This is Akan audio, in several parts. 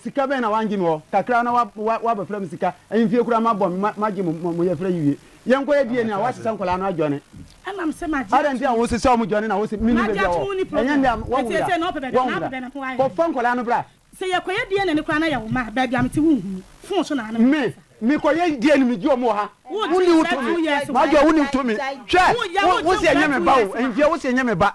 Sika bɛn na wangye me hɔ? Kakra na wabɛfrɛ me sika. Ahemfie koraa mabɔ me, magye mo yɛfrɛ yi wie. Yɛnkɔyɛ DNA a woahyehyɛ nkwadaa no adwane. Adɛn nti na wosesa wɔn dwane na wose menni baabi a wɔwɔ? Ɛnyɛ nnɛ a wɔawu da, wɔawu da. Kɔfa nkwadaa no bra. Me, mekɔyɛ DNA megye wɔn wɔ ha. Wonni wo tumi. M'adwoa, wonni wo tumi. Hwɛ, wose ɛnyɛ me ba o, ahemfie, wose ɛnyɛ me ba.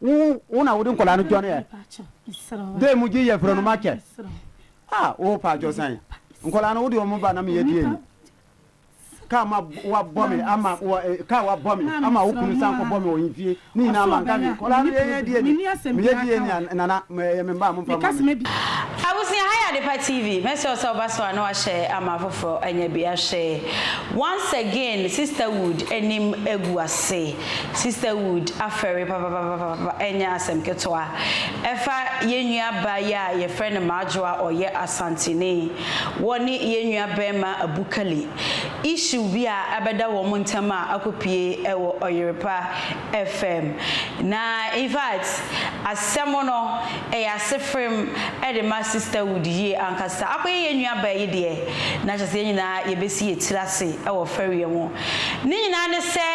Wo wo na wode nkwadaa no dwane ɛ. Dɛn mu gye yɛ frɛ no makyɛ. Ah wo pa akyɛw san. Nkwadaa no wode wɔn ba na meyɛ deɛ ni. Kaa ma wabɔ me ama wɔ kaa wabɔ me ama wo kunu san kɔbɔ me wɔ nfie ne nyinaa ma nka me. Nkwadaa no yɛyɛ deɛ ni. Meyɛ deɛ ni a nana meyɛ me mma a momfa ma me. Abusua ha yɛ adepa TV mɛsrɛ wo sɛ woba so a na wahyɛ ama afoforɔ anya bi ahwɛ once again sisterwood anim agu ase. Sisterhood afɛre papapapapa ɛnyɛ asɛm ketewa. Ɛfa yɛn nua baa yi a yɛfrɛ no Madwo a ɔyɛ Asanteni, wɔne yɛn nua barima Abu Kali. Issue bi a abɛda wɔn ntam a akɔpue ɛwɔ Ɔyerepa FM. Na infact asɛm no ɛyɛ asefrem ɛde ma Sisterhood yie ankasa. Akɔyɛ yɛn nua baa yi deɛ, na kyerɛ sɛ yɛn nyinaa yɛbɛsi yɛn tiri ase ɛwɔ fɛreɛ ho. Ne nyinaa ne sɛ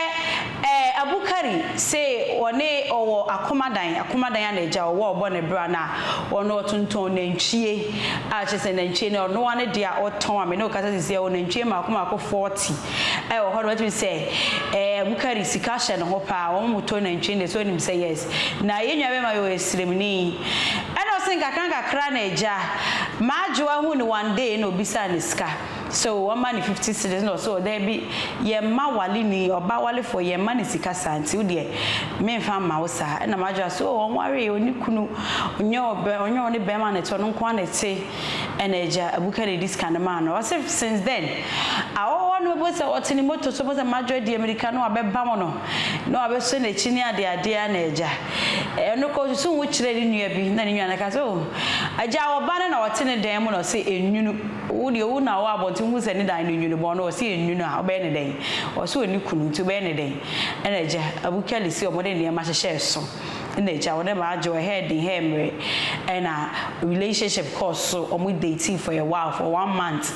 ɛɛ Abu Kari se ɔne ɔwɔ akomadan, akomadan a n'agya ɔwɔ a ɔbɔ no bra no a ɔno ɔtontɔn nantwie a kyerɛ sɛ nantwie no ɔno ara ne deɛ a ɔtɔn a me ne wo kasa sisi ɔwɔ nantwie mmaako mmaako 40 a wɔ hɔ no watumi sɛ ɛɛ Abu Kari sika hyɛ ne ho paa wɔn mo tɔ nantwie no deɛ sɛ ɔnim sɛ yes na yɛn nua bɛrima yi ɔyɛ sremni ɛna ɔse nkakra nkakra na agya m'adwoa hu no one day na ɔbisaa no sika. So wɔma no fifty cedis na ɔse daabi yɛmma waleni ɔbaa walefoɔ yɛmma no sika saa nti wodeɛ menfa mma wo saa ɛna madwene ase oh ɔnwaree ɔnni kunu ɔnyɛ ɔbɛ ɔnyɛ ɔne bɛrima na ɛte ɔno nkoa na ɛte ɛna agya abuka na ɛdi sika no maa no ɔse since then awɔwɔ no mɛbɔ sɛ ɔte ne moto so mɛbɔ sɛ madwɔ deɛ mirika no abɛbam no na wabɛsɔ n'akyi ne adeɛ adeɛ ɛna agya ɛno kɔ susu ho kyerɛ ne nua bi na ne nua no ka sɛ oh agya ɔba no na ɔte ne dan mu na ɔse ɛnwunu Owu deɛ owu na ɔwɔ abɔnten wohu sɛ ne dan no nwunu bɔn no ɔse ɛnwunu a wobɛyɛ no dɛn? Ɔse ɔnni kunu nti wobɛyɛ no dɛn? Ɛna agya Abu Kali se wɔde nneɛma hyehyɛ so ɛna agya wɔde ma adwo ɛhɛɛ den ɛhɛɛ mmere ɛna relationship kɔɔ so wɔn datee for a while for one month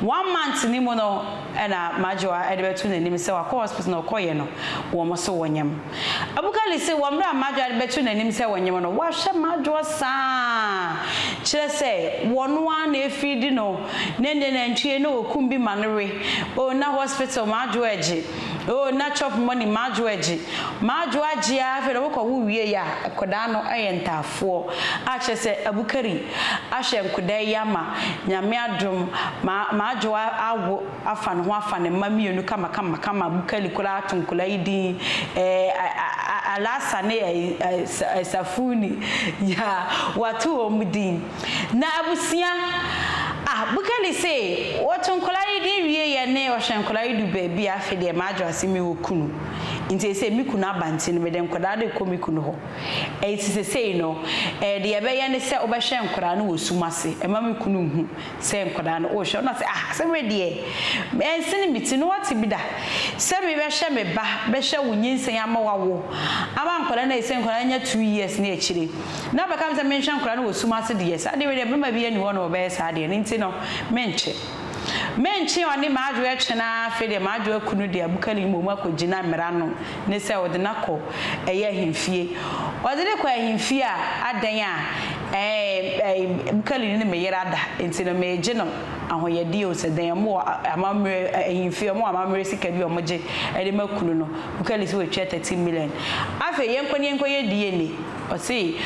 one month no mu no ɛna m'adwoa ɛde bɛto n'anim sɛ wakɔ hospital na ɔkɔyɛ no wɔn se wɔnyam Abukali se wɔ mmerɛ a Madwoa de bɛto n'anim sɛ wɔnye mo no, wahwɛ Madwoa saa ara, kyerɛ sɛ, wɔno ara na ɛfiri di no, na ɛnneɛ nantwie na ɔkum bi ma no we, oh, na hospital Madwoa agye, oh, na chop money Madwoa agye, Madwoa agye ara afei na wokɔwo wie a, akwadaa no ayɛ ntaafoɔ, a kyerɛ sɛ, Abukari ahwɛ nkwadaa yi ama, Nyame adom, ma Madwoa awo. afa ne ho afa ne mma mmienu kamakama kama Bukali koraa ato nkwadaa yi din ɛɛ Alasa ne ɛɛ Safuni yeah wato wɔn din na abusua ah Bukali se wɔto nkwadaa yi din wie yɛ ne ɔhwɛ nkwadaa yi du baabi a afei deɛ madwo ase me wɔ kunu nti ɛsɛ me kunu aba nti no mede nkwadaa de kɔ me kunu hɔ ɛɛ ti sesei no ɛɛ deɛ yɛbɛyɛ ne sɛ wobɛhwɛ nkwadaa no wɔ sum ase ɛma me kunu nhu Sɛ nkwadaa no, wohwɛ no na sɛ, Ah, sɛ wei deɛ, ɛnsene me ti. Na woate bi da? Sɛ me bɛhwɛ me ba, bɛhwɛ wo nyinsɛn ama woawo, ama nkwadaa no ayi, sɛ nkwadaa no anya two years ne akyire, na bɛka me sɛ menhwɛ nkwadaa no wɔ sum ase deɛ, saa deɛ wei deɛ, barima biara nni hɔ a ɔne wo bɛyɛ saa deɛ, ɛno nti no, menkye. Menkye ɔne m'adwoɛ twe no ara, afei deɛ m'adwoɛ kunu deɛ, abukani mmom, akɔgyina mmara ano. ne sɛ ɔde no akɔ ɛyɛ ahemfie. Ɔde no kɔ ahemfie a, adɛn a ɛɛ Mkalini ne me yere ada, nti no meegye no ahɔyɛdeɛ o, sɛ dɛn a, wɔwɔ amammerɛ ahemfie, wɔwɔ amammerɛ sika bi a wɔgye de ma kunu no, Mkalini sɛ watua thirteen million. Afei yɛnkɔ ne yɛnkɔ yɛ DNA, ɔse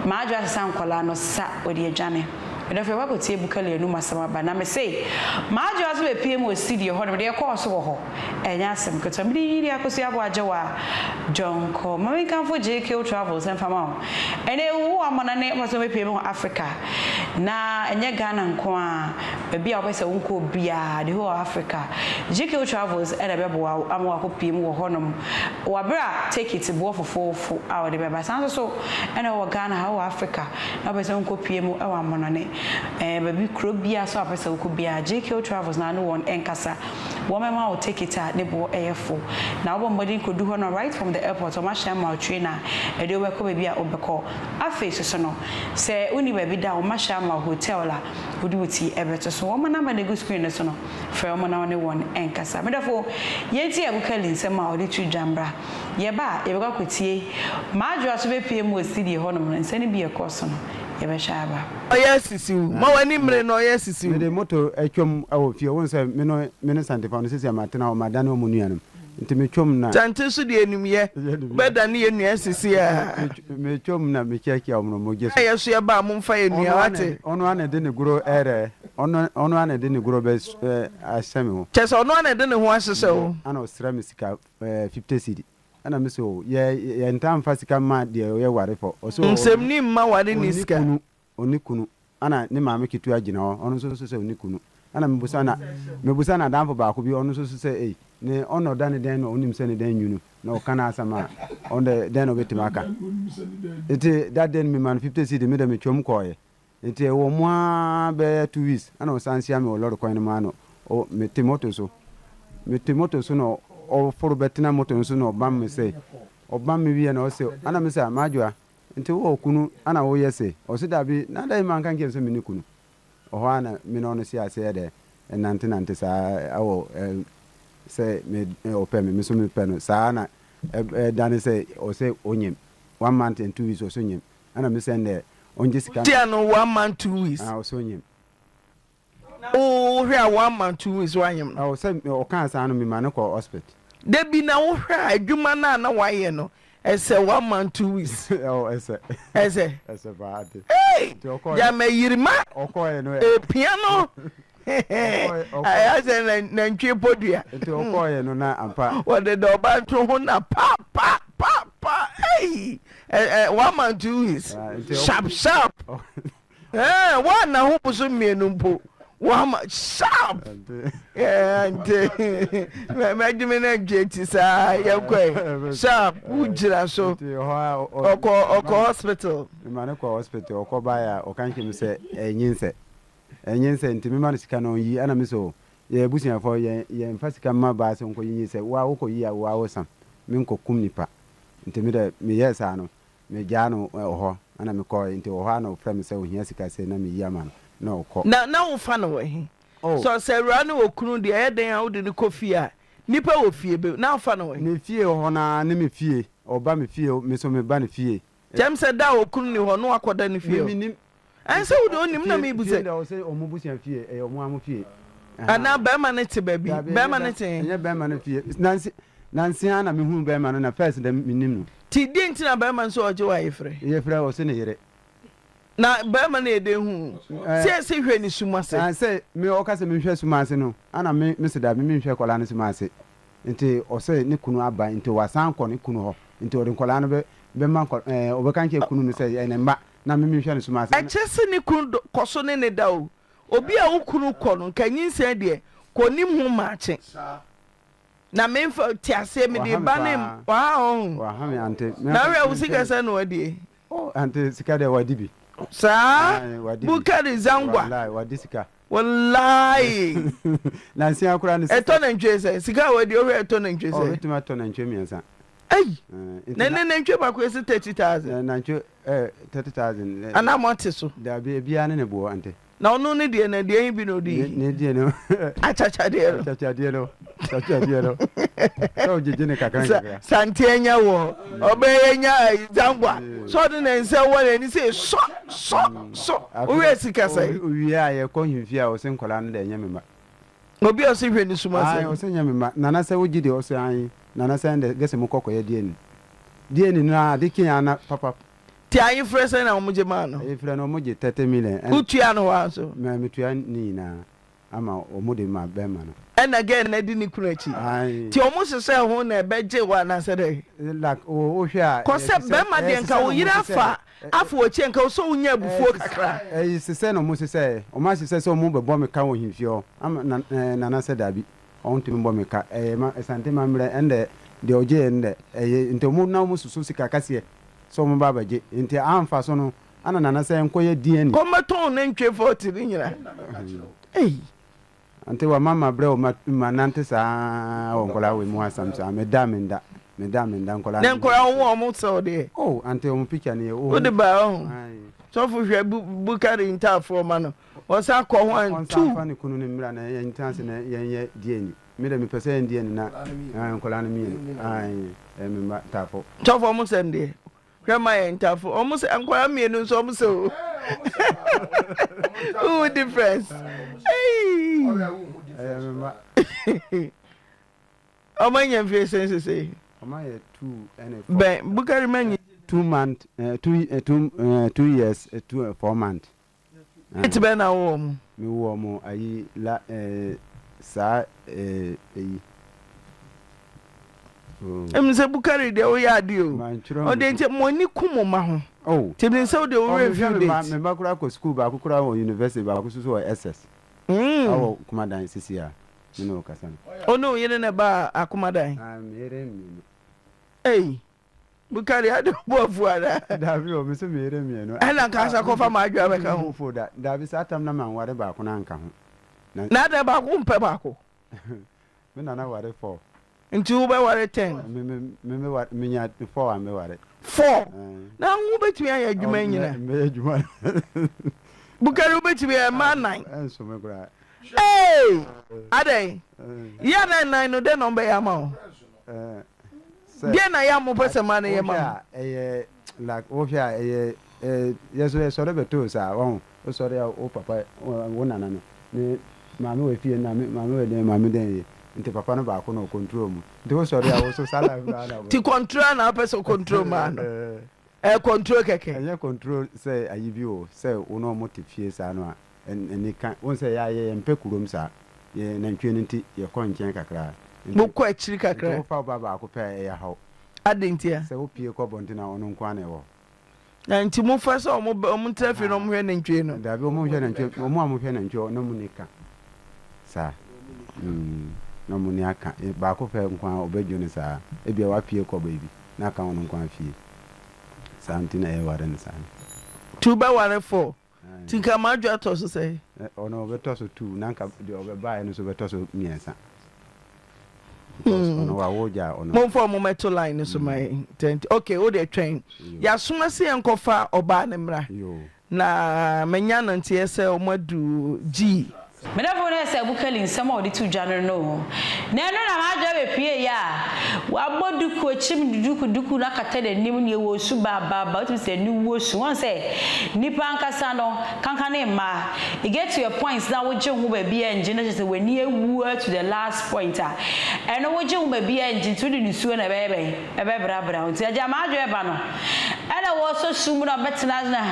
Maadwo asesa nkwadaa no sa, ɔde adwane. Medɔfo yɛkɔ akɔtie Mkalini anum asɛm aba, na mese Maadwo nso bɛpiem wɔ studio hɔ nom, deɛ ɛkɔɔ so wɔ hɔ. Ɛnyɛ asɛm ketewa. Mede Yiyideɛ Akɔsi Aboa Agyewa John Kɔ. Ma menkamfo JK Travels mfa ma wo. Ɛnnɛ wo amana ne wopɛ sɛ wobɛpue me wɔ Africa. Na ɛnyɛ Ghana nko ara, baabi a wopɛ sɛ wonkɔ biara, the whole of Africa, JK Travels na ɛbɛboa wo ama woakɔpue mu wɔ hɔnom wɔ berɛ a tekiti boɔ fofoofo a wode bɛba. Saa nso so na wowɔ Ghana ha, wowɔ Africa na wopɛ sɛ wonkɔpue mu wɔ amanɔne, ɛɛ baabi, kuro biara so a wopɛ sɛ wokɔ biara, JK Travels na wone wɔn nkasa. Wɔbɛma wo tekit a ne boɔ yɛ fo, na wobɔ mmɔden kɔdu hɔ no right from the airport wɔahyɛ ama wo train a ɛde wo bɛkɔ baabi a wobɛkɔ. Afei soso no, sɛ wonni baabi da a wɔahyɛ ama wo hotel a wode wo ti bɛto so. Wɔn number na ɛgu screen no so no, frɛ wɔn na wo ne wɔn nkasa. Me dɔfo, yɛn ti agu Kelly nsam a ɔde tu dwa mmra. Yɛba a, yɛbɛkɔ akɔtie. M'adwoa nso bɛpue mu ɔsi deɛ ɛhɔnom no nsɛm no bi a ɛkɔɔ so no, yɛbɛhwɛ aba. Ɔyɛ sisiw. Ma w'ani mmere na ɔyɛ sisiw. Mede moto twam wɔ fie. Wohu sɛ me ne me ne Santefa no, seesei matena hɔ, madane wɔn nuanom. Enti metwam na. Kyɛnte nso de animyɛ bɛdane yɛn nua sisi ara. Metwam na mekyiakyia wɔn no mogya so. Yɛ so yɛ ba a, momfa yɛ nua, woate? Ɔno ara na ɛde ne goro rɛ. Ɔno, ɔno ara na ɛde ne goro bɛs, ahyɛ me ho. Kyerɛ sɛ, ɔno ara na ɛde ne ho ahyehyɛ wo. Ɛnna ɔsrɛ me sika, ɛɛ, fifty cedi. Ɛna me se o, yɛ yɛ ntaa nfa sika mma deɛ ɔyɛ ware fɔ. Ɔse o, Nsɛm ni mma ware ni sika. Ɔnni kunu, ɔnni kunu. Ɛna ne maame ketewa gyina hɔ, ɔno nso so sɛ ɔnni kunu. Ɛna me busa na, me busa na danfo baako bi, ɔno nso so sɛ ei, ne ɔno ɔda ne dɛn na ɔnim sɛ ne dɛn nwunu, na ɔka n'asɛm a, ɔno dɛ, dɛn na ɔbɛtumi aka. Nti that day no me ma no fifty cedi, me dɛ me twam kɔɔɛ. Ntsi ewɔ mu ara bɛyɛ two weeks na ɔsan hyia me wɔ lɔre kwan no mu ano, ɔ metse moto so, metse moto so na ɔfor bɛtsena moto no so na ɔbam me sɛɛ, ɔbam me wie na ɔse ana mese a Madwoa, ntsi ewɔ kunu ana woyɛ sɛɛ? Ɔse dabi, na dɛn ma annka annkyerɛ me dɛ menni kunu? Hɔ ara na me na ɔno hyɛɛ ase yɛ dɛ nantsenantse saa wɔ sɛ me ɔpɛ me, me so mepɛ no, saa na ɛdanee sɛ ɔse onyim, one month and two weeks ɔse onyim. Ana me sɛn dɛ ɔngye sika no. Wotua no one month two weeks. Ah ɔsɛ onyim. Na wo hwɛ a one month two weeks w'anyim no. Aw sɛ ɔkaa saa no me ma no kɔ hospital. Dabi na wo hwɛ a edwuma no a na w'ayɛ no ɛsɛ one month two weeks. Aw ɛsɛ. Ɛsɛ. Ɛsɛ paa ade. Ei! Gya ma yirima. Ɔkɔɔɛ no ɛ. Epia no ayɛ sɛ nantwie podua nti ɔkɔɔyɛ no na ampa wɔde da ɔba nto ho na pa pa pa pa ei one man two weeks ah, sharp sharp wɔn na ho boso mmienu mpo wama sharp nti mɛgye me nantwie ti saa yɛkɔe sharp wogyina so ɔkɔ hospital ma ne kɔ hospital ɔkɔ baeɛ a ɔka nkyɛm sɛ ɛnyinsɛ Ɛnyɛ sɛ nti mema no sika na ɔnyi ɛna me sɛ oo yɛyɛ abusuafoɔ yɛn yɛnfa sika mma baa sɛ ɔnkɔ yiyi sɛ woa wokɔ yi a woa wo sam me nkɔ kum nipa nti me dɛ me yɛɛ saa no me gyaa no wɔ hɔ ɛna me kɔɔɛ nti wɔ hɔ a na ɔfrɛ me sɛ ohia sika sei na me yi ama no na ɔkɔ. Na na wo fa no wɔ he? Oh. Sɛ ɔsɛ awuraa ne okunu deɛ ɛyɛ dɛn a wode no kɔ fie a nipa wɔ fie be na wo fa no wɔ he? Ne fie hɔ no ara ne me fie ɔba me fie me nso me ba ne fie Kyɛm sɛ da a okunu nni hɔ na wakɔda ne fie o. Ɛnsɛ wo deɛ onim na mebu sɛ. Fie da hɔ sɛ wɔn abusua fie, ɛyɛ wɔn ara wɔn fie. Anaa barima no te baabi, barima no te he? Ɛnyɛ barima no fie. Nanse nanse ara na mehunu barima no na first da mennim no. Nti deɛ nti na barima no sɛ ɔregye wo ayefrɛ? Yefrɛ ɔse ne yere. Na barima no yɛ dɛn hu wo? Sɛ ɛse hwɛ ne sum ase. Sɛ me ɔka sɛ menhwɛ sum ase no, ana me mese da me menhwɛ akwadaa no sum ase. nti ɔsɛ ne kunu aba nti wasan akɔ ne kunu hɔ nti ɔde nkwadaa no bɛ bɛma nkwa ɛɛ ɔbɛka nkyerɛ kunu no sɛ yɛ ne mma na me menhwɛ no so ma sɛ. Ɛkyɛ sɛ ne kunu do kɔso ne ne da o obi a wo kunu kɔ no nka nyinsɛn deɛ kɔ onim ho maakye na menfa te aseɛ mede ba ne waha me ɔho waha me ante na menfa ahwɛ wo menhwɛ sika no sɛn na wadie oh ante sika deɛ wadi bi saa ae wadi bi bukari zangwa walayi wadi sika Wallahi. Nansia koraa no sika. Ɛtɔ nantwie sɛn? Sika a wɔadi ɔhwɛ ɛtɔ nantwie sɛn? Ɔbɛtumi atɔ nantwie mmiɛnsa. Ɛyi. Eh, na ɛnɛ nantwie baako yɛ sɛ thirty thousand. Eh, nantwie ɛɛ eh, thirty thousand. Eh, Anaa mo te so. Dabi ebiara ne ne boɔ ante. Na ɔno ne deɛ na deɛ yi bi na odi. Ne deɛ no. Akyakyadeɛ no. Akyakyadeɛ no. santeɛ nya wɔ ɔbɛyɛ nya zangwa sɛ ɔde ne nsa wɔ n'ani sɛ sɔ sɔ sɔ woyɛ sika sɛ owie a yɛkɔ hemfi a ɔsɛ nkwadaa no dɛ ɛnyɛ mema obi a ɔsɛ hwɛ ne suma sɛ ɔsɛ nyɛ mema nana sɛ wogye deɛ ɔsɛ ayi nana sɛ ɛndɛ gɛsɛ mo kɔkɔyɛ deɛ ni deɛ ni no a de kee ana papa ti ayi frɛ sɛ na wɔn gye maa no ayi frɛ no wɔn gye thirty million wotua no hɔ a so mɛ metua ne nyinaa ama ɔmo de ma bɛɛma no. Ɛna gɛɛ no adi ne kunu akyi. Ae. Nti ɔmo hyehyɛɛ ho na ɛbɛ gye wo anaasɛ dɛn. Like o wo hwɛ a. Kɔ sɛ bɛɛma deɛ nka wo yere afa afa wakyi nka wo sɛ wo nya abufuo kakra. Ɛyi sesɛ na ɔmo sesɛ ɛ. Ɔmo ahyehyɛ sɛ ɔmo bɛ bɔ me ka wɔ hemfie hɔ ama na eh nana sɛ dabi ɔn tumi bɔ me ka ɛyɛ ma asante ma mmerɛ ɛndɛ deɛ ɔgye yɛ no dɛ ɛyɛ nti ɔmo na ɔmo soso sika kɛseɛ sɛ ɔmo bɛ abɛ gye nti a mfaso no Ana nana sɛ nkɔ yɛ DNA. Ɔmɛ tɔn ne ntwe fɔti ne nyina. Ei. Ante wa mama brɛ o ma nante saa wɔ nkɔla wɔ mu asam saa me da me nda me da me nda nkɔla. Ne nkɔla wo wɔ ɔmo sɛ ɔde yɛ. Oh ante ɔmo picture ne yɛ. Wo de ba ɔho. Sɔfo hwɛ bukari ntaafoɔ ma no ɔsan kɔ ho and two. Ɔnsan fa ne kunu ne mmra na yɛn tena ase na yɛn yɛ DNA. Me de me pɛ sɛ yɛn DNA na nkɔla no mmienu. Ayi ɛɛ me mma ntaafo. Sɔfo ɔmo sɛ ndeɛ Hwɛ ma yɛn ntafo ɔmo sɛ nkwadaa mmienu nso ɔmo sɛ o wohu difference ɔmo anya mfie sɛn sese bɛn bukari ma nyi two month eh, two, eh, two, eh, two years eh, two, eh, four month Date bɛn na wowɔ wɔn? Me wɔ wɔn ayi la eh saa eh ayi. Oh. Ɛmu sɛ Bukari deɛ woyɛ ade o. Mantwerɛ Ɔde nti mo ani ku mo mma ho. Oh. Ti mi sɛ wode wo werɛ mfi date. Ɔmo me mma koraa kɔ school baako koraa wɔ university baako nso wɔ SS. Mm. Awɔ Kumadan sisi a me ne ɔkasa no. Ɔne wo yere na ɛbaa Akumadan? Ah me yere mmienu. Ei. Bukari ade ɔbɔ afu anaa? Dabi o, mese meyere mmienu. Ɛna nka sɛ kɔfa m'adwoa bɛka ho. Mpo da, dabi saa tam na manware baako no anka ho. Na. Na adɛn baako wompɛ baako? Me nana ware four. Nti wobɛware ten? Me me me me ware menya four a meware. Four? Ɛɛ. Na wo wobɛtumi ayɛ adwuma yi nyinaa? Ɔ mɛyɛ adwuma no. Bukari wobɛtumi ayɛ mmaa nnan? Ɛnso me koraa. Ee! Adɛn? Yɛ a na nnan no dɛn na wɔbɛyɛ ama wo? sɛ. Deɛ na yɛ a mopɛ sɛ ma no yɛ ma mo. Wohwɛ a ɛyɛ like wohwɛ a ɛyɛ yɛ so yɛsɔre bɛtoo saa wahu wosɔre a wo papa wo nana no ne maame wɔ fie na me maame wɔ dɛn maame dɛn yɛ nti papa no baako na ɔcontrol mu nti wosɔre a wo so saa life no ana ti control a na wopɛ sɛ ɔcontrol maa no ɛyɛ control kɛkɛ ɛnyɛ control sɛ ayi bi o sɛ wo na ɔmo te fie saa no a anika. Wohu sɛ yɛa yɛ yɛmpɛ kurom saa. Yɛ nantwie no nti yɛkɔ nkyɛn kakra. Mo kɔ akyiri kakra. Nti wofa wo ba baako pɛ a ɛyɛ haw. Adɛn nti a? Sɛ wo pie kɔ abɔnten a ɔno nko ara na ɛwɔ hɔ. Na nti mo fa sɛ ɔmo ba ɔmo tena fie na ɔmo hwɛ nantwie no. Daabi ɔmo nhwɛ nantwie no ɔmo a ɔmo hwɛ nantwie hɔ na ɔmo ni ka saa mm na ɔmo ni aka baako pɛ nko ara ɔbɛ dwo no saa ebia wa pie kɔ baabi na aka ɔno nko ara fie saa nti na yɛ ware no saa no. Two bɛ ware four. Nti nka m'adwe atɔ so sɛn? Ɛ, ɔno ɔbɛtɔ so two, na nka deɛ ɔbɛbaeɛ no nso bɛtɔ so mmiɛnsa. Because hmm. ɔno wawo gya ɔno. Momfa ɔmo mɛto line no so ma yɛn. Hmm. Tɛnti, okay, wo deɛ twɛn. Yasoma sɛ yɛn kɔfa ɔbaa ne mmra. Na manya no nteɛ sɛ ɔmo adu gyii. Me dɔfo no ɛsɛ Abu Kali nsɛm a ɔde too dwa no no o. Na ɛno na m'adwene abɛpue yɛ a wabɔ duku, ɔkyim duku, duku no akata n'anim, nea ɛwɔ osu baababa, wotumi sɛ aniwuo su. Wɔn sɛ nnipa ankasa no, kanka ne mma, you get to a point na wogye ho baabi a ngye no kyerɛ sɛ w'ani awua to the last point a, ɛno wogye ho baabi a ngye nti wode nusuo na ɛbɛyɛ bɛn? Ɛbɛbrabra wo nti Agya m'adwene ba no Ɛna wɔsɔ sum mu na ɔbɛtena ase na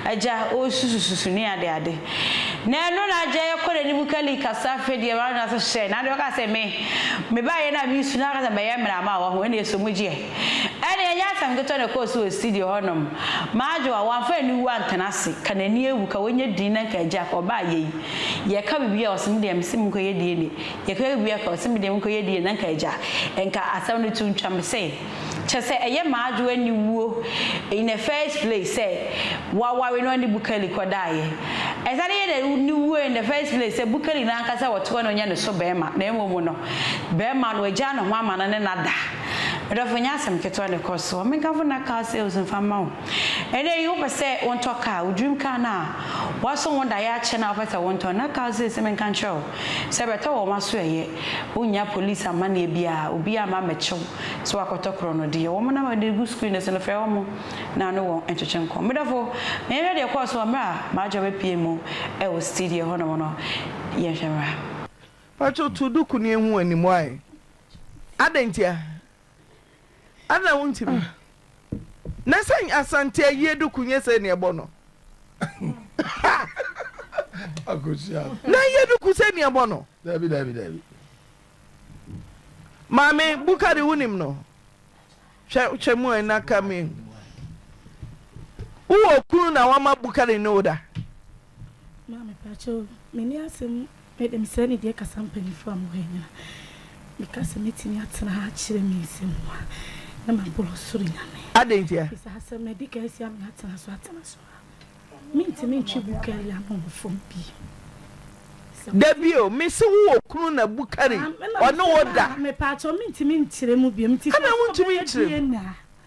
Agya ɔresusususu ne ade ade Na ɛno na Agya yɛ kɔ n'anim Kali kasa afei deɛ Ɛwurade na sɛ hyɛ na deɛ ɔka sɛ me Me ba yɛ na mesu na ɔka sɛ mɛyɛ mmerɛ ama a wahu ɛne ɛsɔ mu gyeɛ Ɛne ɛnyɛ asɛm ketewa na ɛkɔɔ so wɔ studio hɔ nom M'adwo a wamfa aniwuo antena ase Ka n'ani awu ka wɔnyɛ din na nka Agya ka ɔbaa yei Yɛka biribi a ɔse me deɛ mese monkɔyɛ DNA Yɛkɔ yɛ wia ka ɔse me deɛ me kɔ yɛ DNA na nka agya nka asɛm no to ntwa me se kyɛ sɛ ɛyɛ m'adwo ani wuo in the first place sɛ waware no ɔne Bukeli kɔ daeɛ ɛsane yɛ na ne wuo in the first place sɛ Bukeli no ankasa ɔte hɔ na ɔnyɛ ne so bɛɛma na ɛmom no bɛɛma no wagyaa ne ho ama no ne no ada me dɔfo nyɛ asɛm ketewa na ɛkɔ soɔ me nkamfo nna car sales mfa mma wo ɛnɛ yi wopɛ sɛ wontɔ car wo dream car no a woaso wo daeɛ akyɛ no a wopɛ sɛ wontɔ nna car sales me nka nkyerɛ wo Sɛ bɛtɔ wɔn aso ɛyɛ, wonnya police amanneɛ biara, obiara amma ammɛkyɛ wo sɛ woakɔtɔ korɔnodeɛ. Wɔn na mede gu screen no so no, frɛ wɔn na ne wɔn ntwetwe nkɔm. Me dɔfo, ma yɛnhwɛ deɛ ɛkɔɔ so wɔ mmerɛ a Marjorie bɛpuee mu wɔ studio hɔ nom no, yɛnhwɛ mmra. Pacho to duku no yɛnhu animuae. Adɛn ntia? Ana wontumi? Na sɛ Asante ayie duku nyɛ sɛ nea ɛbɔ no? Na ayie duku sɛ nea ɛbɔ no? Dabi dabi dabi. Maame Bukari wonim no? Hwɛ hwɛ mu a ɛna ka mi. Wowɔ kunu na wama Bukari ne wo da? Maame pakyɛw, menni asɛm Medem saa nidie kasa mpanyinfoɔ a mo hɔ nyina me ka sɛ mɛtumi atena ha akyerɛ me nsɛm mu a na maborɔ ɔsoro Nyame. Adɛn ntia? Bisa asɛm no adi kan asi ama yɛatena so atena so a mentumi ntwe Bukari ano wɔ fam bio. Dabio mese wo okunu na Bukari ɔne wo da. Mepaakyɛw mentumi nkyerɛ mu bio. Adɛn wontumi nkyerɛ mu?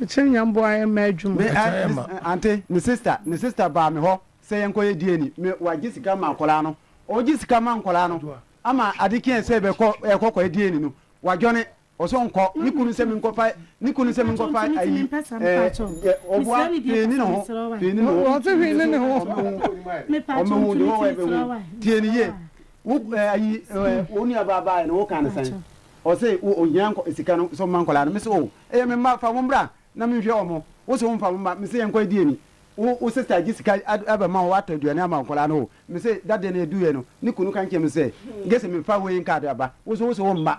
Ɛkyɛ nyamboa yɛ mma adwuma. Me eh me ante ne sister ne sister baa me hɔ sɛ yɛn kɔ yɛ DNA me wa gye sika ma akwadaa no ɔgye sika ma nkwadaa no ama ade kye sɛ bɛ kɔ yɛ kɔ kɔ yɛ DNA no wa dwɔne ɔsɔ nkɔ ne kunu sɛ me nkɔ fa ne kunu sɛ me nkɔ fa ayi ɛɛ ɔboa pii ne ne ho pii ne ne ho ɔte hwii ne ne ho ɔmɛ ho ɔmɛ ho de hɔ wɔ ɛbɛ ho tie ne yie. Wo eh, ayi eh, hmm. wo nua baa baa no wo kan sɛn? Ɔse wo ohia nkɔ sika no so mma nkɔla no. Mese o, oh, ɛyɛ me mma fa wɔn bra na menhwɛ wɔn. Wo so mfa wɔn mma. Mese yɛn kɔ edi ani. Wo wo sista gye sika ɛbɛ ma wɔn atɔ aduane ama nkɔla no o. Mese dadeɛ no edu yɛ no ne kunu kan kyɛn me sɛ gese mefa wei nkaade aba. Wo so wo so wɔn mma.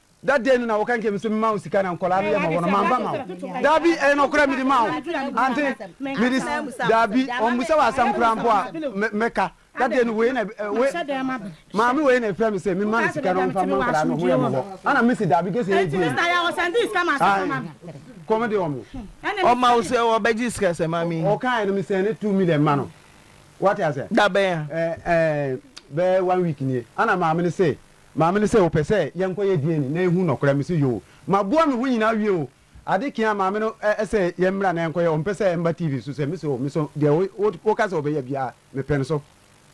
Da dɛn no na woka nkyerɛ me sɛ mema wo sika na nkɔlaa no yɛ ma wɔ no, mamfa ma wo? Dabi, ɛyɛ nɔkorɛ, mede maa wo. Ante? Mede, dabi, ɔmmisa wo asɛm koraa mpo a, mɛ, mɛka. Da dɛn no, wei na, ɛ, wei, maame wei na ɛfrɛ me sɛ memma no sika na ɔmfa mma nkɔlaa no, ɔho yɛ me hɔ. Ana mese, Dabi, gye sɛ ɛyɛ gyee no. Ae, kɔm de wɔn. Ɔma wo sɛ ɔbɛgye sika sɛ maame yi. Ɔkaeɛ no, mesɛn ne two million ma no. Woate aseɛ? Da bɛn a? Ɛ, ɛɛ, bɛyɛ one week nie. Ana maame no se, Maame no se, Wopɛ sɛ yɛnkɔyɛ DNA na yɛhu nɔkorɛ? Mese, Yoo. Maboa me ho nyinaa awie o. Ade kye a maame no se yɛmmra na yɛnkɔyɛ. Ɔmpɛ sɛ ɛmba TV so sɛ. Mese, Oo, me so deɛ woka sɛ wobɛyɛ biara mepɛ no so.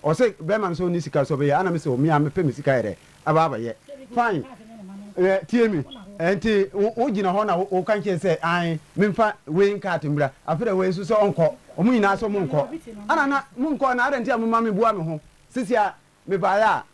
Ɔse, Bɛrima no sɛ ɔnni sika so ɔbɛyɛ? Ana mese, Oo, me ara mepɛ me sika yɛ dɛ aba abɛyɛ. Fine, tie me. Nti wogyina hɔ na woka nkyerɛ no sɛ ae, memfa weighing cart mmra. Afei deɛ wei nso sɛ ɔnkɔ. Wɔn nyinaa se wɔnkɔ. Ana na monkɔ anaa? Adɛn nti a moma meboa me ho? Sisi a mebaeɛ a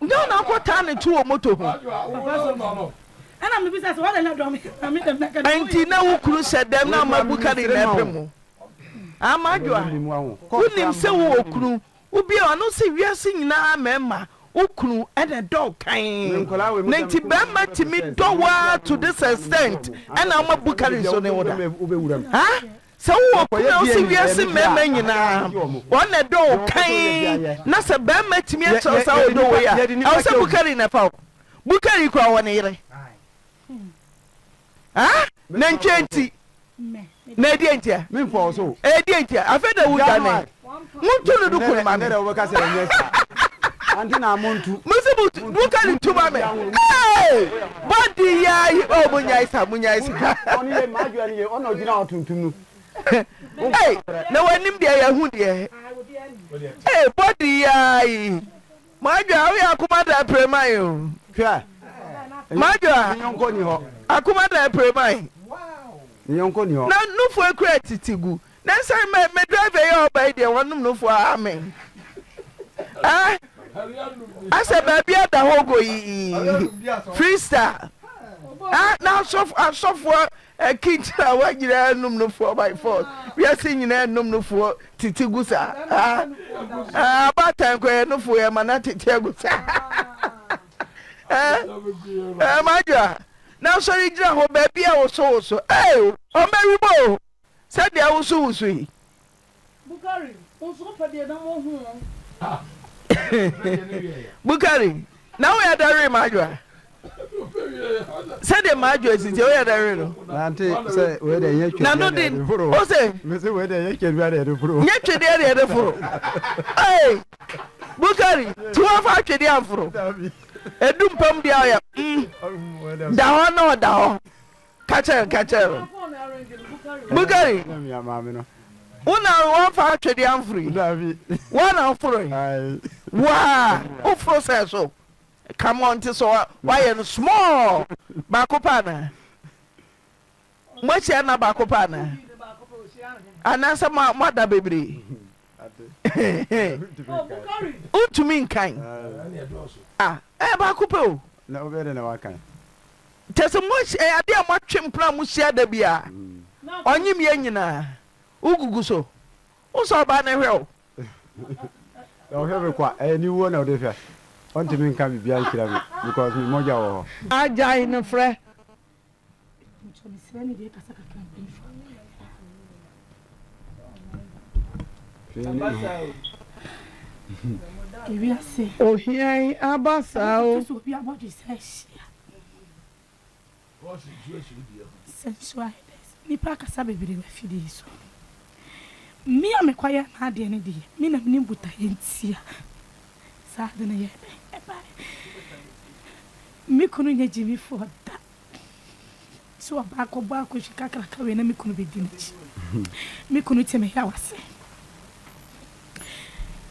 Ghana akɔ taa ne to wɔ moto ho. Ɛnti na wo kunu sɛ dɛm na ama bu ka ne nyinaa pɛ mu. Haa m'adwoa, wo nim sɛ wo wɔ kunu, wo bia ɔno se wiase nyinaa mɛɛma wo kunu ɛna ɛdɔ wo kan. Ne nti bɛɛma timi dɔ wo aa to this extent ɛna ama bu ka ne nso ne wo da. Haa. Sɛ wo wɔ kunu a wo se wiase mmarima nyinaa wɔn na ɛdɔ wo kann na sɛ barima tumi akyerɛ wo saa ɔdɔ wei a, ɛwɔ sɛ Bukari na ɛfa wo. Bukari kura wɔ ne yere. Ah? Nantwie nti. Na ɛdeɛ ntia? Ɛdeɛ ntia? Afei da wo dwane. Montu no duku no ma me. Mese montu duka no tu ma me. Hey! Body ya yi. Oh, munyae sa, munyae sa. Hey! Na wanim deɛ yɛhu deɛ. Hey, body ya yi. Madwa, woyɛ akoma da apreman o. Hwɛ. Madwa. Akoma da apreman. Na nufu ekura titi gu. Ne sɛ me me driver yi a ɔba yi deɛ wɔnom no fo a amen eh asɛ baabi ada hɔ go yi freestyle ah na asɔfo asɔfoɔ akinkyerɛ a wɔnyinaa nom no foɔ by force wiase nyinaa nom no foɔ titi gu saa ah ah abatan kɔ yɛ no foɔ yɛ ma na tete agu saa eh eh madwa na asɔre gyina hɔ baabi a wɔsɔ wɔsɔ eh ɔmɛwi bɔ o. Sɛdeɛ wosuwosu yi. Bukari, wo nso wopɛ deɛ na mohu wo. Bukari, na woyɛ dɛ we m'adwoa. Sɛdeɛ m'adwoa sisi woyɛ dɛ we no. Nante sɛ wei deɛ nyɛ twedeɛ na yɛde foro. Nano de, ose. Mese wei deɛ nyɛ twedeɛ na yɛde foro. Nyɛ twedeɛ na yɛde foro. Ee, Bukari, ti wɔfa twedeɛ amforo. Edu mpam deɛ ɔyɛ mm, da hɔ na ɔda hɔ. Ka kyerɛ no, ka kyerɛ no. Bukari, wo na woamfa atwedeɛ amforo yi? Dabi. Woa na woforo yi? Ae. Woaa, woforo sɛ so? Come on, nti sɛ woayɛ no small, baako pɛ anaa? Moahyia nna baako pɛ anaa? Anaasɛ moada bebree? Wontumi nkan. Ah, ɛyɛ baako pɛ o. Na wobɛyɛ dɛ na woakan? Kyerɛ sɛ moahyia yɛ adeɛ a moatwe mpena a mohyia da biara. Ɔnyem yɛ nyinaa. Wogugu so. Wosɔ ɔbaa no hwɛ o. Ɔhwɛ me kwa, ɛyɛ ne wuo na ɔde hwɛ. Ɔntumi nka biribiara nkyerɛ me because me mogya wɔ hɔ. Agyae no frɛ. Ohia yi aba saa o. Nipa kasa bebree wɔ afidie yi so. Me a mekɔyɛ n'adeɛ no deɛ, me na menim botaeɛ nti a saa ade no yɛɛ dɛn ɛbaeɛ. Me kunu nyɛ gyimifoɔ da. So ɔbaako bɔ akɔhwi kakraka wei na me kunu bɛdi n'akyi? Me kunu te me yaw ase.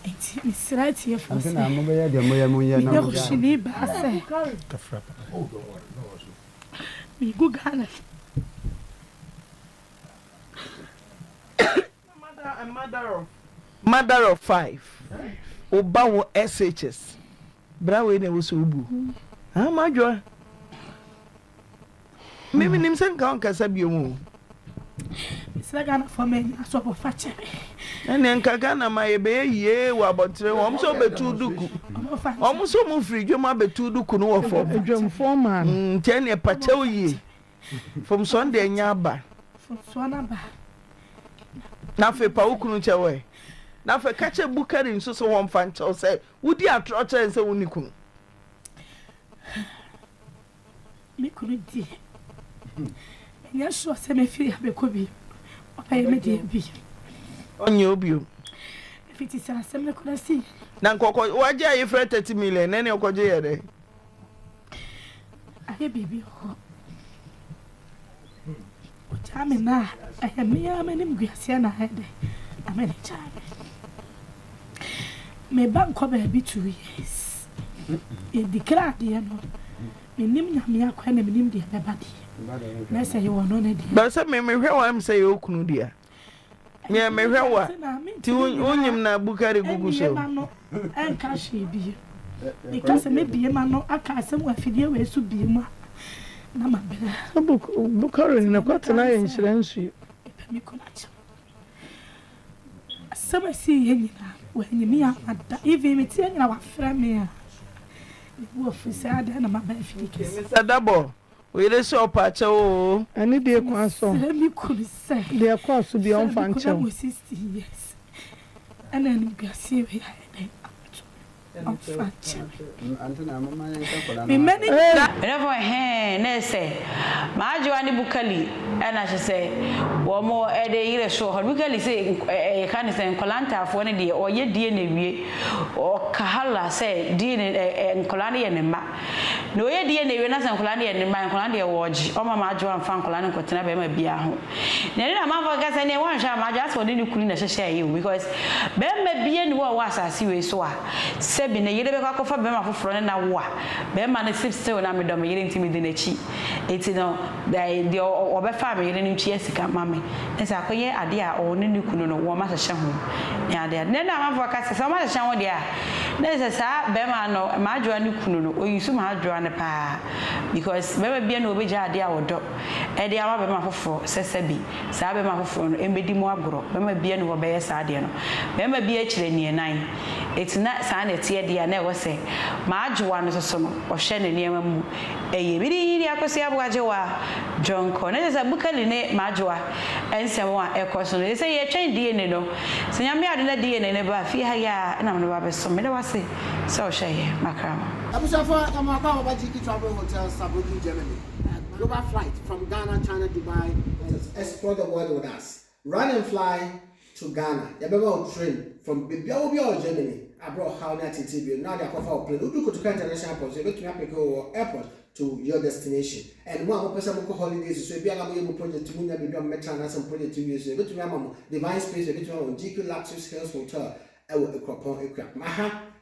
Enti mesrɛ atiefoɔ sɛ, meyɛ ɔhwini baa sɛ, megu Ghana. Mother of five wo ba wo SHS bra wei na ɛwɔ sɛ wobu haa madwoa me menim sɛ nka wonkasa biom o sɛ Ghanafoɔ mɛnya asɔfo fa kyɛ me ɛneɛ nka Ghana ma yɛbɛyɛ yie wɔ abɔntere wɔm sɛ wobɛtu duku wɔm sɛ wɔmfiri dwam abɛtu duku no wɔ fam nti ɛneɛ pakyɛw yie Fomsoɔ no deɛ nya aba. Fomsoɔ no aba. Na afei pa wo kunu kyɛ wɔ ɛ. Na afei ka kyɛ Bukari nso sɛ wɔn fa nkyɛw sɛ wodi atorɔ kyerɛ nsɛ wo ne kunu. Me kunu di. Ɛnyɛ sure sɛ me firi abɛkɔ bi. Ɔbɛyɛ me deɛ bi. Ɔnyɛ obi o. Ɛfiti sɛ asɛm no kura si. Na nkɔkɔ wagye ayefrɛ 30 million na ɛne ɔkɔgye yɛ dɛ. Ayɛ biribi wɔ hɔ. Ɔgyaa me na ɛyɛ me ara m'anim guaseɛ na ayɛ dɛ na mene gyaa me. Me ba nkɔ baabi two years. Yɛdi kra adeɛ no. Menim nyame akwan na menim deɛ bɛba deɛ. Na sɛ yɛwɔ no ne deɛ. Bɛsɛ me mehwɛ wɔn sɛ yɛ okunu deɛ. Nyɛ mehwɛ wo a, nti wonyim na bukari gugu so. Ɛmmeema no ɛnka hwee biem. Meka sɛ mɛbie m'ano aka asɛm wɔ afidie wei so biem a, na mabrɛ. Sɛ bukari no kwate no ayɛ nhyira nsuo. Mepɛ me kunu akyɛ me. Asɛm a ɛsiiɛ nyinaa no, wannye me amma da. Even meteɛ nyinaa, wafrɛ me a, mebu afu sɛ adɛn na maba afidie kɛseɛ. Mister Dabor, Wo yere se ɔpɛ akyɛw oo. Ɛne deɛ kwan sɔ. Mesrɛ me kunu sɛ. Deɛ ɛkɔɔ so biara ɔmfa nkyɛ wo. Sɛ mekɔnya 60 years ɛna animguaseɛ wei ayɛ dɛn abɛto me no ɔmfa nkyɛ me. Me mma no nyinaa. Ɛdɛ fo ɛhee na ɛsɛ Maadwoa ne Bukali na kyesɛ wɔn ɛde yere so wɔ hɔ no Bukali se yɛ ka ne sɛ nkwadaa ntaafoɔ no deɛ ɔyɛ DNA wie ɔkahala sɛ DNA nkwadaa no yɛ ne mma Nea ɔyɛ di yɛ na ewie na sɛ nkwadaa no yɛ ne mma a, nkwadaa no deɛ wɔregye. Ɔmma m'adwoa mfa nkwadaa no nkɔtena barima biara ho. Nea ɛne n'amanfoɔ keka sɛ ɛnneɛ woanhwɛ a m'adwoa asɛ ɔne ne kunu na ɛhyehyɛɛ yɛ o because barima biara nni hɔ a ɔwɔ asase wei so a sɛbi ne yere bɛkɔ akɔfa barima foforɔ ne no awo a barima no se still na medɔ me yere nti medi n'akyi nti no ɛɛ deɛ ɔbɛfaa me yere no ntua sika ma me na sɛ akɔyɛ adeɛ a ɔne ne kunu no wɔn ahyehyɛ ho ne adeade. Nea ɛne n'amanfoɔ keka sɛ sɛ wɔahyehyɛ ho deɛ a. Na kyerɛ sɛ saa bɛrima no mmadwoa no kunu no ɔyi so mmadwoa no paa because bɛrima biara nni hɔ a ɔbɛgya adeɛ a ɔdɔ de ama bɛrima foforɔ sɛ sɛbi saa bɛrima foforɔ no mmɛdi mu agorɔ bɛrima biara nni hɔ a ɔbɛyɛ saa adeɛ no bɛrima biara kyiri aniɛnan ɛti na saa na ɛteɛ deɛ a na ɛwɔ sɛ mmadwoa no nso so no ɔhwɛ ne nneɛma mu Eye me din de Akosua Boagyewa Dwonkor. Na kyerɛ sɛ Bukali ne Majowa nsɛm a ɛkɔ so no, eye sɛ yɛretwɛn DNA no. Sɛ Nyame yɛ adom na DNA no ba fie ha yi a, na mede wo abɛsom. Meda wo ase sɛ wohwɛ yɛn. Makrama. Abusuafo, ɛmɔ akɔ a wɔba GE Travel Hotel Saarbrücken, Germany. Global flight from Ghana, China, Dubai. Explore the world with us. Run and fly to Ghana, yɛbɛma wo train from baabiara wɔ biara wɔ Germany a berɛ a ɔhaw ne ateetee bio no na wɔde akɔfa wo plane. Wodu Kotoka International Airport nso yɛbɛtumi apeke wo wɔ airport to your destination. And mo a mopɛ sɛ mokɔ holidays nso, ebia na moyɛ mo project monya baabi a mobɛtra anaasɛ mo project nwie nso a, yɛbɛtumi ama mo Divine Space, yɛbɛtumi ama mo GQ Luxurious Hills Hotel wɔ Akuapɔn, Akuapem. Aha